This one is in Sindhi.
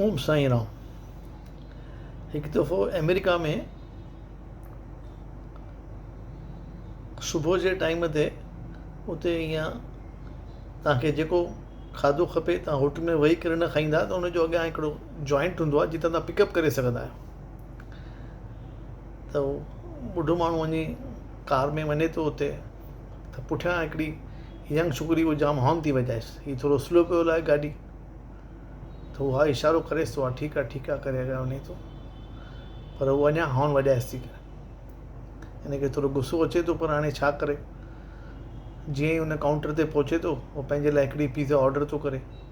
اوم سائين رام هڪ دفعو امريڪا ۾ صبح جي ٽائيم تي اتي ايئن تاکي جيڪو کاڌو کپي تان هوٽل ۾ ويهي ڪري نه کائيندا ته ان جو اڳيان هڪڙو جوائنٽ هوندو آهي جتان تان پڪپ ڪري سگهندا آهيو ته هو ٻڍو ماڻهو وڃي ڪار ۾ وڃي ٿو اتي ته پٺيان هڪڙي ينگ ڇوڪري اهو جام هارن ٿي وڄائيس هي ٿورو سلو پيو هلائي گاڏي ته اها اشارو ڪريس ٿو ها ٺيڪ آهي ٺيڪ آهي ڪري اڳيان وڃي ٿو پر هو اڃا هارن وڄائيس ٿي ان کي ٿورو غصو اچي ٿو پر هاڻي ڇا ڪري جيئن هي هن ڪائونٽر تي پهچي ٿو هو پنهنجي لاء هڪڙي پيزا آرڊر ٿو ڪري